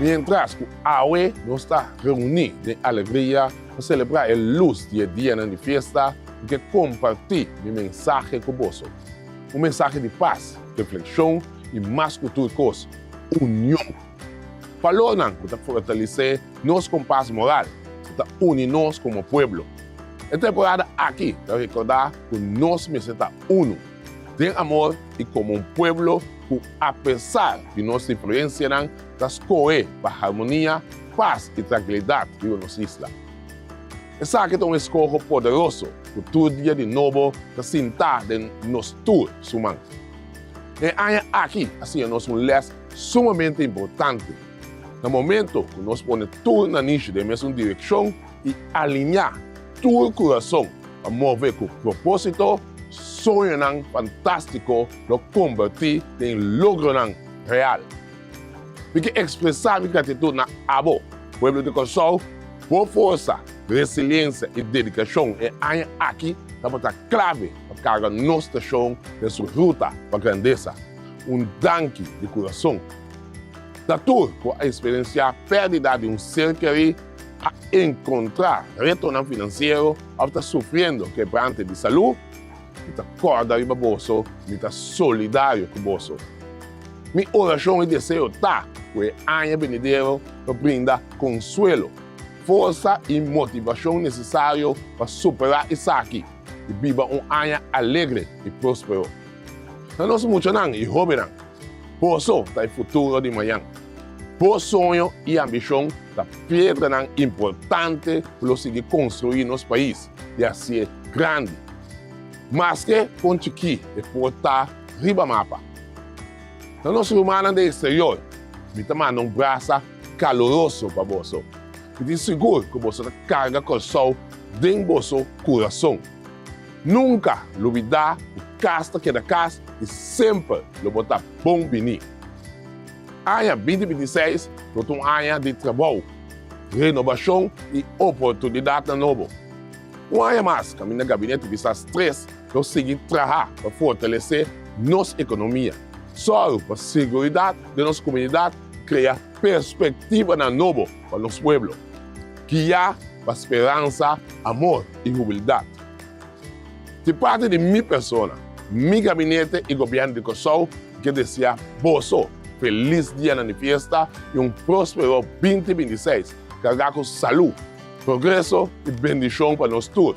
Mientras cu awe nos ta reuni den alegria pa celebra e luz di e dianan di fiesta, mi ke comparti mi mensahe cu boso. Un mensahe di paz, reflexion y mas cu tur cos, union. Balornan cu ta fortalece nos compas moral, cu ta uni nos como pueblo. E temporada aki ta recorda cu nos mester ta uno den amor y como un pueblo cu apesar di nos diferencianan ta scoge pa harmonia, paz y tranquilidad riba nos isla. Esaki ta un escoho poderoso cu tur dia di nobo ta sinta den nos tur suman. E aña aki a siña nos un les Sumamente importante, na momento cu nos pone tur nan nishi den mesun direccion y aliña tur curason pa move cu proposito, soñonan fantastico lo converti den logronan real. Mi ke expresa mi gratitud na abo, pueblo di Kòrsou, bo forsa, resiliencia y dedicacion e aña aki tabata clave pa carga nos stacion den su ruta pa grandesa. Un danki di kurason. Ta tur ku a eksperensiá pèrdida di un ser keré, a enkontrá retonan finansiero òf ta sufriendo kebrante di salú. Mi ta kòrda riba boso, mi ta solidario ku boso. Mi orashon i deseo ta ku e aña benidero lo brinda konsuelo, forsa i motivashon nesesario pa superá esaki i biba un aña alegre i próspero. Na nos muchanan i hóbennan, boso ta e futuro di mañan. Bo soño i ambishon ta piedranan importante ku lo sigui konstruí nos pais i hasié grandi. Maske kon chikí e por ta riba mapa, na nos rumannan den eksterior mi ta manda un brasa kaloroso pa boso. Mi tin sigur ku boso ta karga Kòrsou den boso kurason. Nunka lo bida ku kas ta keda kas i semper lo bo ta bon bini. Aña binti binti seis lo ta un aña di trabou, renobashon i oportunidatnan nobo. Un aña mas kaminda Gabinete Bisas tres lo sigui traha pa fortalesé nos ekonomia, sòru pa seguridat den nos komunidat i krea perspektibanan nobo. pa nos pueblo, guia pa speransa, amor y hubildat. Di parti di mi persona, mi gabinete y Gobierno di Cor-sou quier desea boso feliz dianan di fiesta y un prospero binti binti seis carga cu salud, progreso y bendicion pa nos tur.